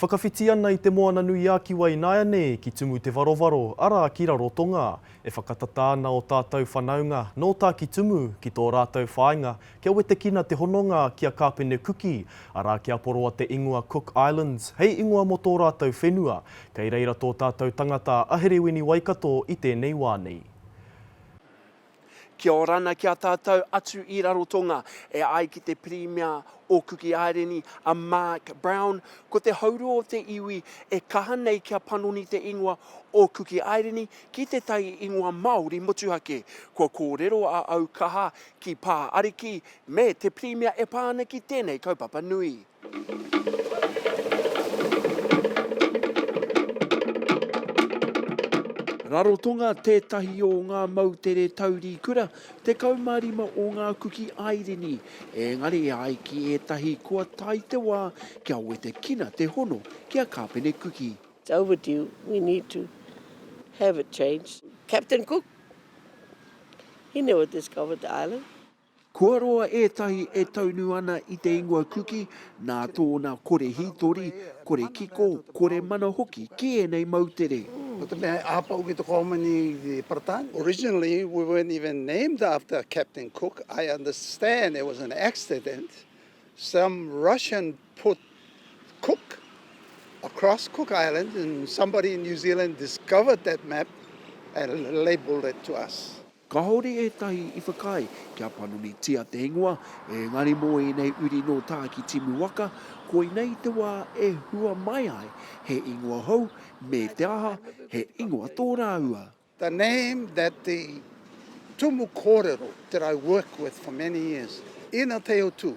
Whakawhiti ana i Te Moana-nui-a-Kiwa ināianei ki Tumu Te Varowaro, arā, ki Rarotonga. E whakatata ana ō tātou whanaunga, nō Tāki Tumu, ki tō rātou whāinga, kia wetekina te hononga ki a Kāpene Kuki, arā, ki a Poroa Te Ingoa Cook Islands, hei ingoa mō tō rātou whenua. Kei reira tō tātou tangata a Herewini Waikato i tēnei wā nei. Kia ora ana ki a tātou atu i Rarotonga, e ai ki te Pirimia o Kuki Aireni, a Mark Brown, ko te haurua o te iwi e kaha nei kia panoni te ingoa o Kuki Aireni ki te tai ingoa Māori motuhake. Kua kōrero a Aukaha ki Pā Ariki me te Pirimia e pā ana ki tēnei kaupapa nui. Rarotonga tētahi o ngā moutere tauri kura, 15 o ngā kuki airini, ēngari e ai ki ētahi kua tae te wā kia wetekina te hono ki a Kāpene Kuki. It's overdue, we need to have it changed. Captain Cook, he never discovered the island. Kua roa ētahi e taunu ana i te ingoa Kuki nā tōna kore hītori, kore kiko, kore mana hoki ki ēnei moutere. Ko te mea he āpau ki te Kohomoni i te Paratānia. Originally we weren't even named after Captain Cook, I understand it was an accident, some Russian put Cook across Cook Island and somebody in New Zealand discovered that map and labelled it to us. Kāore ētahi i whakaae kia panonitia te ingoa, ēngari mō ēnei uri nō Tāki Timu waka, koinei te wā e hua mai ai he ingoa hou, me te aha, he ingoa tō rāua. The name that the tumu kōrero that I worked with for many years, Ina Teo Tū.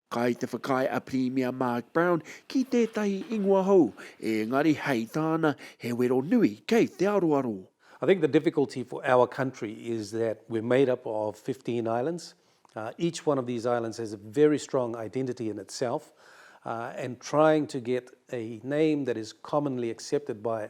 Kai te whakaae a Pirimia Mark Brown ki tētahi ingoa hou, ēngari hei tāna, he wero nui kei te aroaro. I think the difficulty for our country is that we're made up of fifteen islands, each one of these islands has a very strong identity in itself and trying to get a name that is commonly accepted by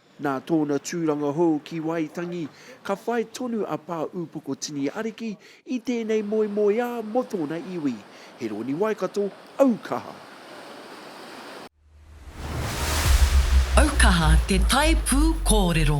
Nā tōna tūranga hou ki Waitangi, ka whai tonu a Pā Upoko Tini Ariki i tēnei moemoeā mō tōna iwi. He rōni Waikato aukaha. Aukaha te tae pū kōrero.